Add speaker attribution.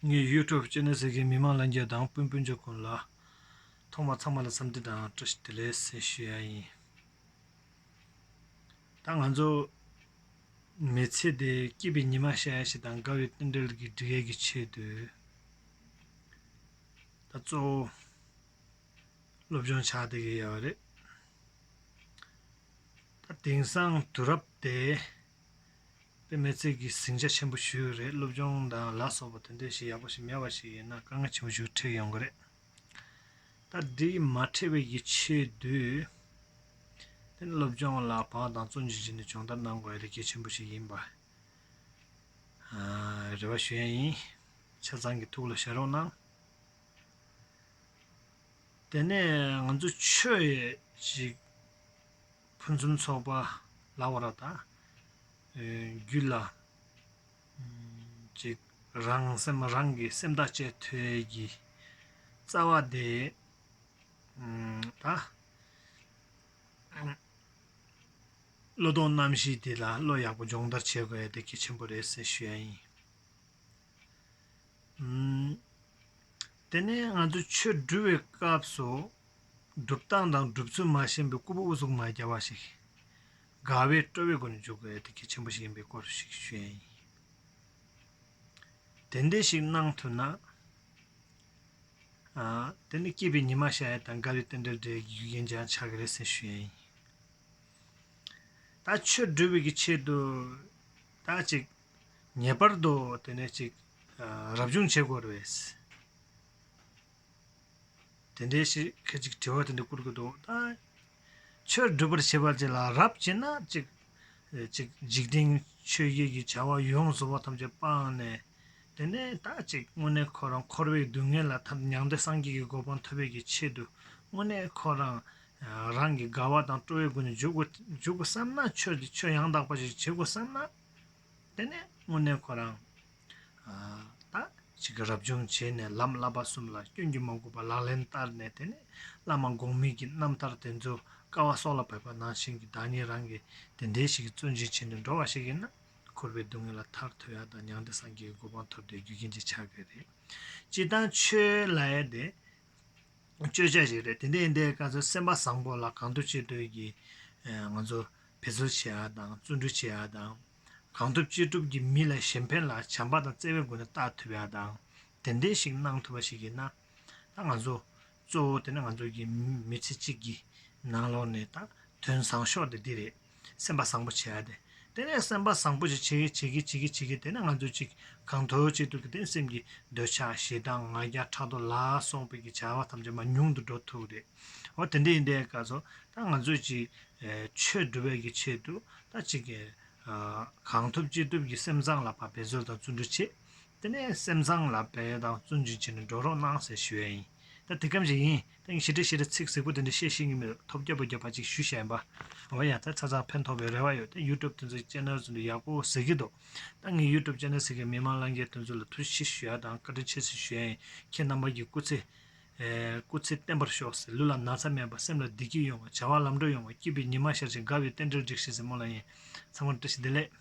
Speaker 1: ངས YouTube ཅན་ནས་ཟེར་མཁན་མི་མང་ལ་འགྱེལ་དང་སྤུན་སྤུན་ཆ་ཀུན་ལ། ཐོག་མར་ཚང་མ་ལ་བསམ་འདི་དང་བཀྲ་ཤིས་བདེ་ལེགས་ཟེར་ཞུ་ཡ་ཡིན། ད་ང་ཚོ་མི་ཚེ་འདི་སྐྱིད་པའི་ཉི་མ་ཤར་ཡ་ཞིག་དང་དགའ་བའི་རྟེན་འབྲེལ་གྱི་འབྲི་ཡ་གི་ཆེད་དུ། ད་གཙོ་བོ་སློབ་སྦྱོང་བྱ་བསྡད་ཀྱི་ཡོད་རེད། ད་དེང་སང་དུས་རབས་དེ་པདྨའི་རྩལ་གྱིས་ཟིང་ཆ་ཆེན་པོ་ཞུས་ཀྱི་རེད་སློབ་སྦྱོང་དང་ལ་སོགས་པ་དོན་དོན་ཞིག་ཡག་པོ་ཞིག་མེད་པ་ཞིག་ཡིན་ན་དཀའ་ངལ་ཆེན་པོ་ཞིག་འཕྲད་ཡོང་གི་རེད། ད་འདི་ཡིས་མ་འཕྲད་པའི་ཡིད་ཆེས་དུས། དེ་ནི་སློབ་སྦྱོང་ལ་བག་དང་བཙོན་འཇུག་བྱས་ནས་སྦྱོང་བརྡར་གནང་དགོས་པའི་རི་སྐྱེས་ཆེན་པོ་ཞིག་ཡིན་པར་རེ་བ་ཞུ་ཡ་ཡིན། ཆ་ཚང་གི་ཐུགས་ལ་བཞག་རོགས་གནང། དེ་ནས་ང་ཚོ་ཆོས་ཡིག་ཅིག། ཕུན་སུམ་ཚོགས་པ་ལ་བ་ར་དང། རྒྱུད་ལ། ཅིག། རང་སེམས་རང་གི་སེམས་དག་བཅས་ཐོལ་གྱི། རྩ་བ་བདེ། དང། བློ་སྟོང་རྣམ་བཞི་དེ་ལ་བློ་ཡག་པོ་སྦྱོང་བརྡར་བྱེད་དགོས་དེ་གལ་ཆེན་པོ་རེད་ཟེར་ཞུ་ཡ་ཡིན། དེ་ནས་ང་ཚོ་ཆོས་འབྲི་བའི་སྐབས་སུ། སྒྲུབ་སྟངས་དང་སྒྲུབ་ཚུལ་མ་ཤེས་པའི་སྐུ་པོ་དབུ་གཟུགས་མ་རྒྱ་བ་ཞིག་གིས་དགའ་བའི་སྤྲོ་བའི་སྒོ་ནས་འཇུག་པའི་གཏེར་ཁ་ཆེན་པོ་ཞིག་ཡིན་པའི་སྐོར་ཞིག་ཞུ་ཡས་ཡིན། དེ་འདྲས་ཞིག་གནང་ཐུབ་ན། དེ་ནི་སྐྱིད་པའི་ཉི་མ་ཤར་ཡས་དང་དགའ་བའི་རྟེན་འབྲེལ་འབྲེལ་གྱི་རྒྱུ་རྐྱེན་ཀྱང་ཆགས་ཀྱི་རེད་ཟེར་ཞུ་ཡས་ཡིན། ད་ཆོས་སྒྲུབ་བོད་ཀྱི་ཆེད་དུ་ད་ཅིག་ངེས་པར་དུ་དེ་ནས་ཅིག་རབ་བྱུང་བྱེད་དགོས་རེད། དེ་འདྲའི་ཞིག་ཁད་ཅིག་དྲི་བ་དེ་འདྲ་བསྐུར་གི་འདུག་ད། ཆོས་སྒྲུབ་པར་བྱེད་པ་བཅས་ལ་རབ་བྱེད་ན་གཅིག། གཅིག་འཇིག་རྟེན་ཆོས་བརྒྱད་ཀྱི་བྱ་བ་ཡོངས་སུ་བ་ཐམས་ཅད་སྤངས་ནས། དེ་ནས་ད་གཅིག་དངོས་གནས་ཁོ་རང་འཁོར་བའི་སྡུག་བསྔལ་ལ་ཐར་མྱང་འདས་སངས་རྒྱས་ཀྱི་གོ་འཕང་ཐོབ་པའི་ཀྱི་ཆེད་དུ་དངོས་གནས་ཁོ་རང། རང་གི་དགའ་བ་དང་སྤྲོ་བའི་སྒོ་ནས་འཇུག་གོ་འཇུག་གོ་བསམ་ན་ཆོས་ཀྱི་ཆོས་ཡང་དག་པ་ཞིག་བྱེད་དགོས་བསམ་ན། དེ་ནས་སྔོན་གནས་ཁོ་རང་དང་གཅིག་གིས་རབ་བྱུང་བྱས་ནས་ལམ་བསླབ་པ་གསུམ་ལ་སྐྱོན་གྱིས་མ་གོས་པ་ལག་ལེན་བསྟར་ནས་དེ་ནས་བླ་མ་འགོག་མེད་ཀྱི་རྣམ་ཐར་དེ་ཚོ་ཀ་བ་སོགས་ལ་བབས་པ་ནང་བཞིན་གྱི་བདག་ཉིད་རང་གི་དེ་འདྲའི་ཞིག་གི་བརྩོན་ཅིང་བྱས་ནས་འགྲོ་བ་ཞིག་ཡིན་ན་འཁོར་བའི་སྡུག་བསྔལ་ལ་ཐར་ཐོད་ཡ་དང་མྱང་འདས་སངས་རྒྱས་ཀྱི་གོ་འཕང་ཐོབ་བསྡད་རྒྱུ་རྐྱེན་གྱི་ཆ་གས་རེད། སྤྱི་བཏང་ཆོས་ལ་ཡ་དེ་སྤྱོད་བྱ་ཞིག་རེད་དེ་འདྲའི་ཡིན་དེ་ཀ་ཚོད་སེམས་པ་བཟང་པོ་ལ་གང་འདོད་ཅི་འདོད་ཀྱིས་ང་ཚོ་འབད་རྩོལ་བྱེད་ཨ་དང་བརྩོན་འགྲུས་བྱེད་ཨ་དང། གང་ཐུབ་ཅི་ཐུབ་ཀྱིས་མི་ལ་གཞན་ཕན་ལ་བྱམས་པ་དང་བརྩེ་བའི་སྒོ་ནས་བལྟ་ཐུབ་ཨ་དང། དེ་འདྲའི་ཞིག་གནང་ཐུབ་པ་ཞིག་ཡིན་ན། ད་ང་ཚོ། གཙོ་བོ་དེ་ནི་ང་ཚོ་གི་མི་ཚེ་གཅིག་གི། ནང་ལོགས་ནས་ད་དོན་བཟང་ཤོག་དེ་འདི་རེད། སེམས་པ་བཟང་པོ་བྱེད་ཨ་དེ། དེ་ནས་སེམས་པ་བཟང་པོ་ཞིག་བྱེད་གི་བྱེད་གི་བྱེད་གི་བྱེད་གི་དེ་ནས་ང་ཚོ་གཅིག་གང་ཐུབ་ཅི་ཐུབ་ཀྱིས་དེ་ནས་སེམས་ཀྱི་འདོད་ཆགས་ཞེ་སྡང་ང་རྒྱལ་ཕྲག་དོག་ལ་སོགས་པའི་ཀྱི་བྱ་བ་ཐམས་ཅད་མ་ཉུང་དུ་འགྲོ་ཐུབ་རེད། འོ་དེ་འདྲ་ཡིན་པའི་སྐབས་སུ་ད་ང་ཚོས་ཅིག་ཆོས་སྒྲུབ་པའི་གི་ཆེད་དུ་ད་ཅིག་གི་གང་ཐུབ་ཅི་ཐུབ་ཀྱི་སེམས་བཟང་ལ་བ་འབད་རྩོལ་དང་བརྩོན་འགྲུས་བྱེད་དེ་ནས་སེམས་བཟང་ལ་བ་དང་བརྩོན་འགྲུས་བྱེད་ནས་འགྲོ་རོགས་གནང་ཟེར་ཞུ་ཡ་ཡིན་ད་དེ་གམ་ཞིག་ཡིན་ད་ངས་ཞི་ཁྲེ་ཞེས་ལ་ཚིག་ཟིག་པོ་དེ་འདྲ་བཤད་ཤེས་ཀྱི་མེད་འདུག་ཐོབ་རྒྱ་པོ་རྒྱབ་པ་ཅིག་ཞུ་བཞིན་པ་འོ་ཡ་ད་ཚ་ཚང་ཕན་ཐོགས་པའི་རེ་བ་ཡོད་ད་ཡུ་ཀྲུབ་དེ་ཚོའི་ཅན་ནལ་ཚོ་འདི་ཡག་པོ་ཟེར་གྱི་འདུག་ད་ངས་ཡུ་ཀྲུབ་ཅན་ནལ་ཟེར་གི་མི་མང་ལང་རྒྱལ་དོན་ཚོ་ལ་ཐུགས་ཞི་ཞུ་ཡ་དང་བཀའ་དྲིན་ཆེ་ཟེར་ཞུ་ཡ་ཡིན་ཁྱེད་རྣམ་པ་གྱི་སྐུ་ཚེ་སྐུ་ཚེ་བརྟན་པར་ཤོག་ཟེར་ལུས་ལ་ན་ཚ་མེད་པར་སེམས་ལ་བདེ་སྐྱིད་ཡོང་བར་བྱ་བ་ལམ་འགྲོ་ཡོང་བར་སྐྱིད་པའི་ཉི་མ་ཤར་ཅིང་དགའ་བའི་རྟེན་འབྲེལ་འགྲིགས་ཤིག་ཟེར་མོ་ལ་ཡིན་ཚང་མར་བཀྲ་ཤིས་བདེ་ལེགས།